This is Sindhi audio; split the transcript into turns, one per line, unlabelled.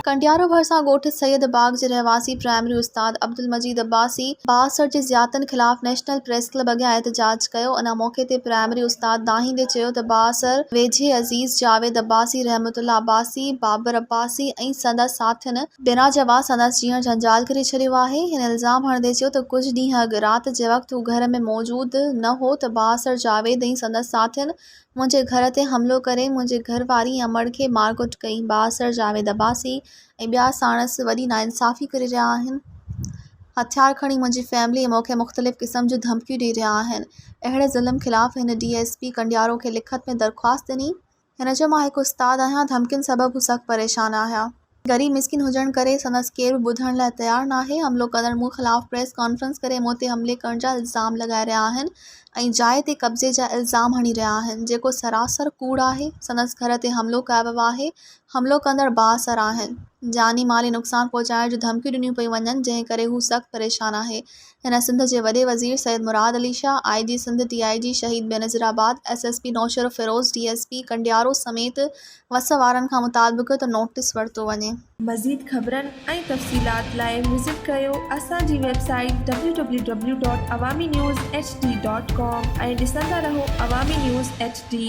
ڪنڊيارو ڀرسان ڳوٺ سيد باغ جي رهواسي پرائمري استاد عبدالمجيد عباسي بااثر جي زيادتين خلاف نيشنل پريس ڪلب اڳيان احتجاج ڪيو ان موقعي تي پرائمري استاد دانهيندي چيو ته بااثر ويجهي عزيز جاويد عباسي رحمت الله عباسي بابر عباسي ۽ سندس ساٿين بنا جواز سندس جيئڻ جنجال ڪري ڇڏيو آهي. هن الزام هڻندي چيو ته ڪجهه ڏينهن اڳ رات جي وقت هو گهر ۾ موجود نه هو ته بااثر جاويد ۽ سندس ساٿين منهنجي گهر تي حملو ڪري منهنجي گهر واري ۽ امڙ کي مارڪٽ ڪئي. بااثر جاويد عباسي ۽ ٻيا ساڻس وڏي ناانصافي ڪري رهيا آهن. هٿيار کڻي منهنجي فيملي ۽ مونکي مختلف قسم جون ڌمڪيون ڏئي رهيا آهن. اهڙي ظلم خلاف هن ڊي ايس پي ڪنڊيارو کي لکت ۾ درخواست ڏني. هن چيو، مان هڪ استاد آهيان، ڌمڪين سبب هو سخت پريشان آهي. غريب مسڪين هجڻ ڪري سندس ڪير به ٻڌڻ لاء تيار ناهي، حملو ڪندڙ مون خلاف پريس ڪانفرنس ڪري مون تي حملي ڪرڻ جا الزام لڳائي رهيا آهن ۽ جاء تي قبضي جا الزام هڻي رهيا آهن، جيڪو سراسر ڪوڙ آهي، سندس گهر تي حملو ڪيو ويو آهي، حملو ڪندڙ بااثر آهن، جاني مالي نقصان پهچائڻ جون ڌمڪيون ڏنيون پيون وڃن، جنهن ڪري هو سخت پريشان آهي، هن سنڌ جي وڏي وزير سيد مراد علي شاهه، آء جي Sindh, D I G Shaheed Benazirabad, S S P Naushahro Feroze, D S P Kandiaro سميت وس وارن کان مطالبو ڪيو ته نوٽيس ورتو وڃي. مزيد خبرن
۽ تفصيلات لاء وزٽ ڪيو اسان جي website W W W dot Awami news H D dot com ۽ ڏسندا رهو عوامي نيوز ايڇ ڊي.